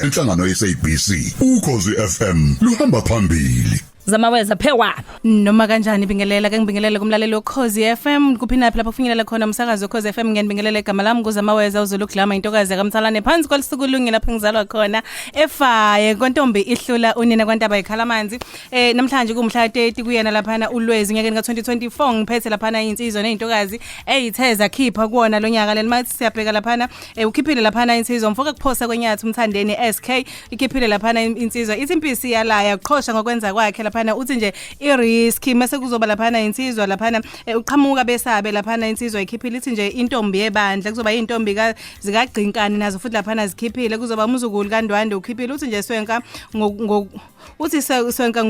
Inhlangano yeSABC ukhozi FM luhamba phambili. zamaweza phewa noma kanjani bingelela ke ngibingelele kumlaleli wokhozi FM kuphinaphi lapho kufinyelela khona umsakazo wokhozi FM ngiyanibingelela igama lami nguzamaweza uzulu glama intokazi yakamthalane phansi kwalusuku lungi lapho ngizalwa khona efaye kontombi ihlula unina kwantaba ikhala amanzi eh namhlanje kumhla 30 kuyena laphana ulwezi nyakeni ka2024 ngiphethe laphana insizwa nezintokazi eyithe zakhipha kuona lonyaka lelimathi siyabheka laphana Eh ukhiphile laphana insizwa mfoka kuphosa kwenyathi umthandeni SK ikhiphile laphana in- insizwa ithi impisi yalaya uqhosha ngokwenza kwakhe laphana uthi nje i risk mase kuzoba laphana insizwa laphana eh, uqhamuka besabe laphana insizwa ikhiphile ithi nje intombi yebandla kuzoba intombi ka zikagcinkani nazo futhi laphana zikhiphile kuzoba umzukulu kaNdwande ukhiphile uthi nje swenka ngo- ngo- uthi swenka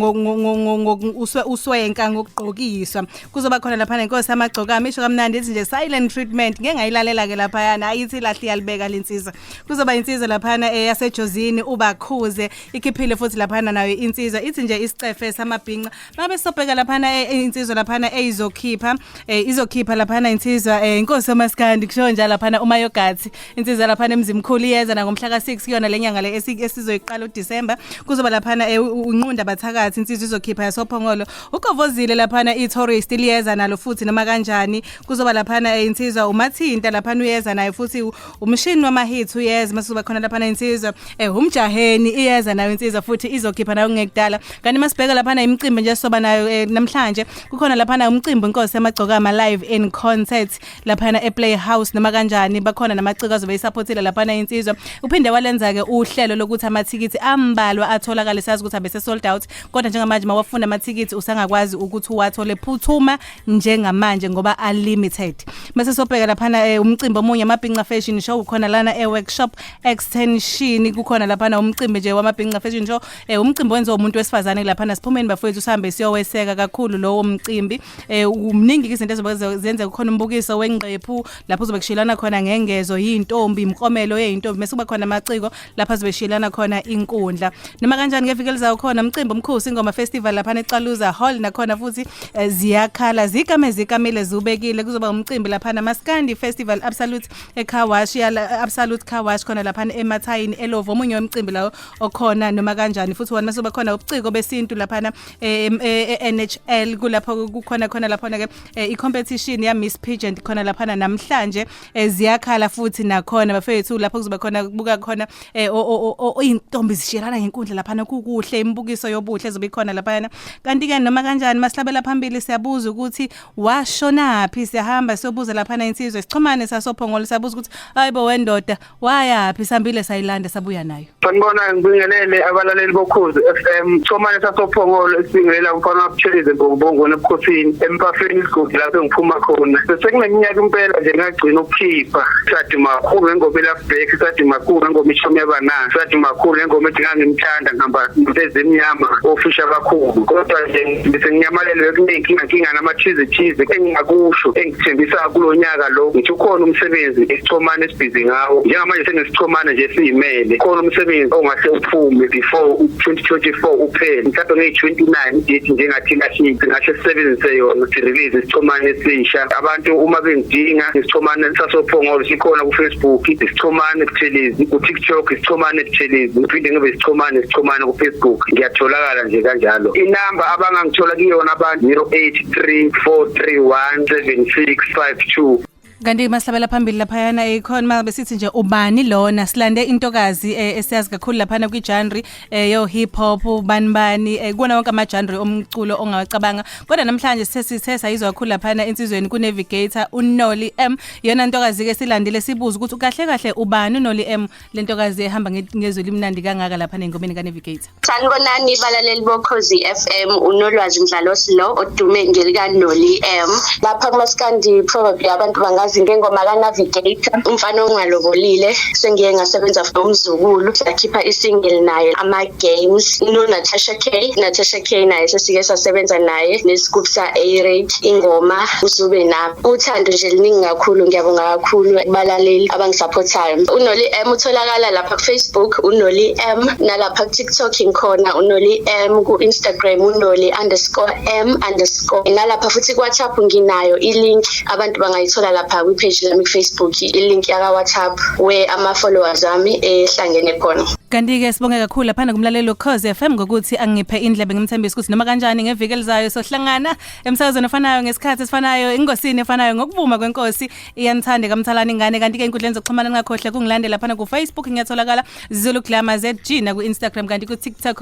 uswenka ngokugqokiswa kuzoba khona lapha nenkosi amagcokama isho kamnandi ithi nje silent treatment ngeke ngayilalela ke laphayana ayithi lahle yalibeka lensiza kuzoba insizwa laphana eh, yasejozini ubakhuze ikhiphile futhi laphana nayo insizwa ithi nje isicefe samabhinca Babe sobheka laphana eh, eh, insizwa laphana eyizokhipha eh, izokhipha laphana insizwa inkosi omaskandi kusho nje laphana uma yogathi insizwa laphana emzimkhulu iyeza na ngomhla ka6 kuyona lenyanga le esizoyiqala uDecember kuzoba laphana unqunda bathakathi insizwa izokhipha yasophongolo ugovozile laphana itourist liyeza nalo futhi noma kanjani kuzoba laphana insizwa umathinta laphana uyeza naye futhi umshini wamahits uyeza mase uzoba khona lapha na insizwa eh umjaheni iyeza nayo insizwa futhi izokhipha nayo ngekudala kanti masibheka lapha na imicimbi nje soba nayo eh, namhlanje kukhona lapha na umcimbi inkosi yamagcokama live in concert lapha na eplay house noma kanjani bakhona namaciko azobe isupportile lapha na insizwa uphinde walenza ke uhlelo lokuthi amathikithi ambalwa atholakala sazi ukuthi abese sold out kodwa njengamanje mawafuna amathikithi usangakwazi ukuthi uwathole phuthuma njengamanje ngoba are limited mase sobheka laphana eh, umcimbi omunye amabhinca fashion show ukhona lana e workshop extension kukhona laphana umcimbi nje wamabhinca fashion show eh, umcimbi wenziwa umuntu wesifazane laphana siphumeni bafowethu sihambe siyoweseka kakhulu lowo mcimbi eh, umningi izinto ezobe zenze kukhona umbukiso wengqephu lapho uzobe kushelana khona ngengezo yintombi imkomelo yeyintombi mase kuba khona amaciko lapha zibeshiyelana khona inkundla noma kanjani ngeviki elizayo khona umcimbi omkhosi ingoma festival lapha neXaluza Hall nakhona futhi eh, ziyakhala zikame zikamile zubekile kuzoba umcimbi lapha namaskandi festival absolute eCarwash ya absolute Carwash khona lapha eMathayini eLovo omunye wemcimbi lawo okhona noma kanjani futhi wona masoba khona ubuciko besintu lapha eh, eh, eNHL kulapho kukhona khona lapha ke icompetition ya Miss Pageant khona lapha namhlanje eh, ziyakhala futhi nakhona bafethu lapho kuzoba khona kubuka khona eh, o- o- o- o- izintombi zishiyelana ngenkundla laphana kukuhle imibukiso yobuhle ezobe ikhona laphana kanti ke noma kanjani masihlabela phambili siyabuza ukuthi washonaphi siyahamba siyobuza laphana insizwe sixhumane sasophongolo siyabuza ukuthi hayibo wendoda wayaphi sambile sayilanda sabuya nayo Sanibona ngibingelele abalaleli bokhozi FM Chomane sasophongolo esibingelela umfana wabuthezi eBongbongo nebukhosini empafeni isigodi lapho ngiphuma khona sekuneminyaka impela nje ngagcina ukukhipha sathi makhulu ngengoma elafbreak sathi makhulu ngengoma ishomi yabana sathi makhulu ngengoma ethi ngangimthanda ngihamba ngitezi emnyama ofisha kakhulu kodwa nje ngisenyamalelwe kuningi inkinga inkinga namathize thize engingakusho Thembisa kulo nyaka lo ngithi ukhona umsebenzi esichomane esibhizi ngawo njengamanje senesichomane nje siyimele khona umsebenzi ongahle uphume before 2024 uphele mhlawumbe ngeyi-29 date njengathi lahlisi ngahle sisebenzise yona si-release isichomane esisha abantu uma bengidinga isichomane sasophongolo sikhona kufacebook isichomane buthelezi kutiktok isichomane buthelezi ngiphinde ngibe isichomane isichomane kufacebook ngiyatholakala nje kanjalo inamba abangangithola kuyona abantu 08 07434317652 kanti masabela phambili laphayana ekhona uma besithi nje ubani lona silande intokazi eh, esiyazi kakhulu laphana kwijanri eh, yo hip hop ubani bani eh, kuwona wonke amajanri omculo ongawacabanga kodwa namhlanje sesithe sayizwa kakhulu laphana insizweni kunavigator unoli m yona ntokazi-ke silandile sibuza ukuthi kahle kahle ubani unoli m le ntokazi ehamba nge- ngezwi elimnandi kangaka lapha nengomeni kaNavigator Sanibonani balaleli bokhozi FM unolwazi mdlalosi lo odume ngelika Noli M lapha kumaskandi probably abantu bangazi ngengoma ka Navigator umfana ongalobolile sengiye ngasebenza for umzukulu sakhipha isingle naye ama games no Natasha K Natasha K naye sesike sasebenza naye nesigubhu sa A-Rate ingoma uzube nami uthando nje liningi kakhulu ngiyabonga kakhulu kubalaleli abangisupportayo unoli M utholakala lapha kufacebook unoli M nalapha kutiktok ngikhona unoli M ku-instagram unoli underscore M underscore nalapha futhi kuwhatsapp nginayo ilink abantu bangayithola lapha kwipage lami kufacebook ilink yakawhatsapp where ama-followers ami ehlangene khona Kanti-ke sibonge kakhulu laphana kumlaleli wekhozi FM ngokuthi angiphe indlebe ngimthembisa ukuthi noma kanjani ngeviki elizayo sohlangana emsakazweni ofanayo ngesikhathi esifanayo ingosini efanayo ngokuvuma kwenkosi iyanithanda kamthalana ingane kanti-ke inkundleni zokuxhumana ningakhohle kungilandela laphana kufacebook ngiyatholakala zulu glamour zg naku-instagram kanti ku-tiktok